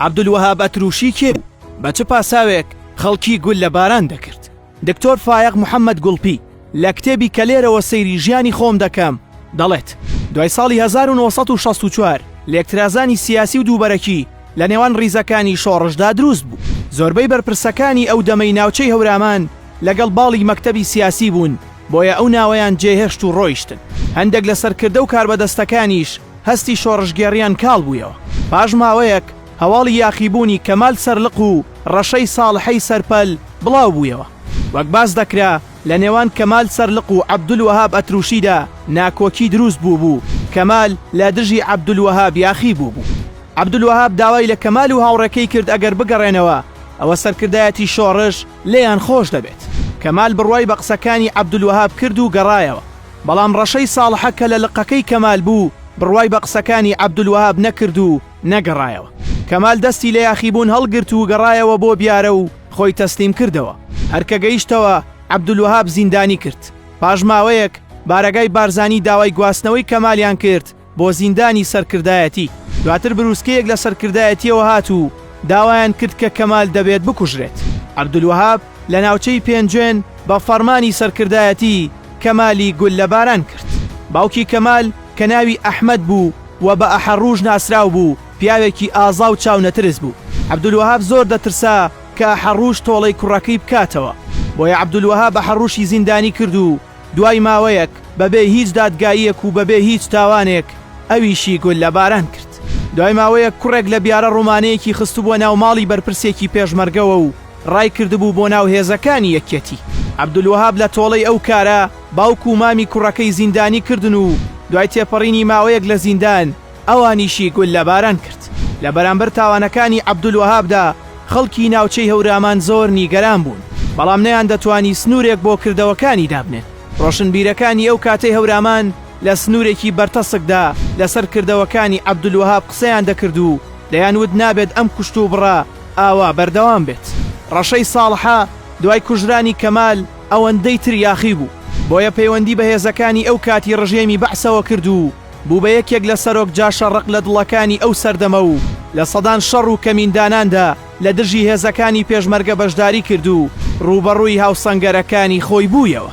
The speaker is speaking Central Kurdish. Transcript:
عەبدولوەهاب ئەتروشی کێ بوو؟ بە چ پاساوێک خەڵکی گوللە باران دەکرد؟ دکتۆر فایەق محەمەد گوڵپی لە کتێبی کە لێرەوە سەیری ژیانی خۆم دەکەم دەڵێت، دوای ساڵی هەزار و نۆ سەد و شەست و چوار لێکترازانی سیاسی و دووبەرەکی لە نێوان ڕیزەکانی شۆڕشدا دروست بوو. زۆربەی بەرپرسەکانی ئەو دەمەی ناوچەی هەورامان لەگەڵ باڵی مەکتەبی سیاسی بوون بۆیە ئەو ناوەیان جێهێشت و ڕۆیشتن. هەندێک لە سەرکردە و کاربەدەستەکانیش هەستی شۆڕشگێڕیان کاڵ بوویەوە. پاش ماوەیەک هەواڵی یاخیبوونی کەمال سەرلق و ڕەشەی ساڵحی سەرپەل بڵاو بوویەوە. وەک باس دەکرا لە نێوان کەمال سەرلق و عەبدولوەهاب ئەتروشیدا ناکۆکی دروست بووبوو، کەمال لە دژی عەبدولوەهاب یاخی بووبوو. عەبدولوەهاب داوای لە کەمال و هاوڕێکەی کرد ئەگەر بگەڕێنەوە ئەوە سەرکردایەتی شۆڕش، لێیان خۆش دەبێت. کەمال بڕوای بە قسەکانی عەبدولوەهاب کرد و گەڕایەوە، بەڵام ڕەشەی ساڵحە کە لە لقەکەی کەمال بوو بڕوای بە قسەکانی عەبدولوەهاب نەکرد و نەگەڕایەوە. کەمال دەستی لە یاخیبوون هەڵگرت و گەڕایەوە بۆ بیارە و خۆی تەسلیم کردەوە. هەر کە گەیشتەوە عەبدولوەهاب زیندانی کرد. پاش ماوەیەک بارەگای بارزانی داوای گواستنەوەی کەمالیان کرد، بۆ زیندانی سەرکردایەتی، دواتر بروسکەیەک لە سەرکردایەتیەوە هات و داوایان کرد کە کەمال دەبێت بکوژرێت. عەبدولوەهاب لە ناوچەی پێنجوێن بە فەڕمانی سەرکردایەتی کەمالی گوللە باران کرد. باوکی کەمال کە ناوی ئەحمەد بوو و بە ئەحەڕووش ناسراو بوو، پیاوێکی ئازا و چاونەترس بوو. عەبدولوەهاب زۆر دەترسا کە ئەحەڕووش تۆڵەی کوڕەکەی بکاتەوە، بۆیە عەبدولوەهاب ئەحەڕووشی زیندانی کرد و دوای ماوەیەک بەبێ هیچ دادگاییەک و بەبێ هیچ تاوانێک ئەویشی گوللە باران کرد. دوای ماوەیەک کوڕێک لە بیارە ڕۆمانەیەکی خستبووە ناو ماڵی بەرپرسێکی پێشمەرگەوە و ڕایکردبوو بۆ ناو هێزەکانی یەکیەتی. عەبدولوەهاب لە تۆڵەی ئەو کارە باوک و مامی کوڕەکەی زیندانی کردن و دوای تێپەڕینی ماوەیەک لە زیندان، ئەوانیشی گوللەباران کرد. لە بەرامبەر تاوانەکانی عەبدولوەهابدا خەڵکی ناوچەی هەورامان زۆر نیگەران بوون، بەڵام نەیاندەتوانی سنوورێک بۆ کردەوەکانی دابنێن. ڕۆشنبیرەکانی ئەو کاتەی هەورامان لە سنوورێکی بەرتەسکدا لەسەر کردەوەکانی عەبدولوەهاب قسەیان دەکرد و دەیانوت نابێت ئەم کوشتوبڕە ئاوا بەردەوام بێت. ڕەشەی ساڵحە دوای کوژرانی کەمال ئەوەندەی تریاخی بوو، بۆیە پەیوەندی بە هێزەکانی ئەو کاتی ڕژێمی بەعسەوە کرد و بوو بە یەکێک لە سەرۆک جاشە ڕق لە دڵەکانی ئەو سەردەمە و لە سەدان شەڕ و کەمینداناندا لە دژی هێزەکانی پێشمەرگە بەشداری کرد و ڕووبەڕووی هاوسەنگەرەکانی خۆی بوویەوە.